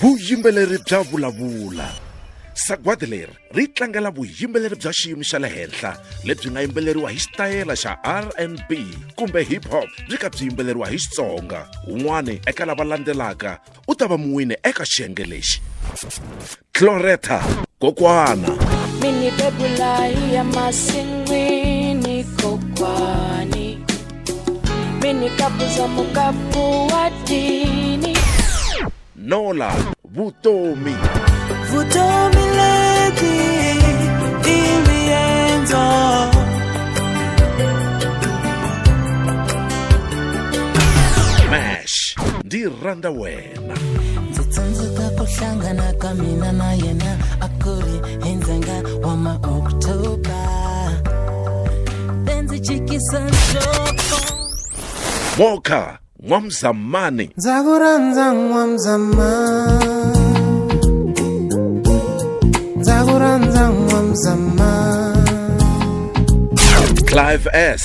vuyimbeleri bya vulavula sagwadi leri ri tlangela vuyimbeleri bya xiyimo xa le henhla lebyi nga yimbeleriwa hi xitayela xa r n b kumbe hip hop byi ka byi yimbeleriwa hi xitsonga un'wana eka lava landzelaka u ta va muwini eka xiyenge lexi Cloretta kokwana mini bebulayi ya masin'wini kokwani mini kapuza mukapu wa dini Nola vutomi vutomi lebyi i riendzo Mash ndi rhandza wena yena ndzi tsundzuka ku hlangana ka mina na yena a ku ri hi ndzenga wa maoktoba ndzi jikisa nhloko moka n'wamzamani ndza ku rhandza n'wamzamani ndza ku rhandza n'wamzamani clive s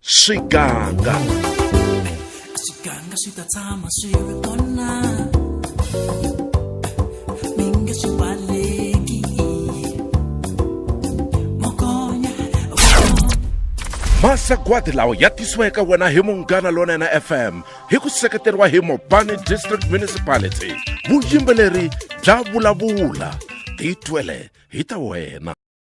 swiganga swiganga swi ta tshama swi ri kona mi nge swi baleki mokonya masagwadi lawa ya tisiwa eka wena hi munghana lonene fm hi ku seketeriwa hi mobani district municipality vuyimbeleri bya vulavula titwele hi ta wena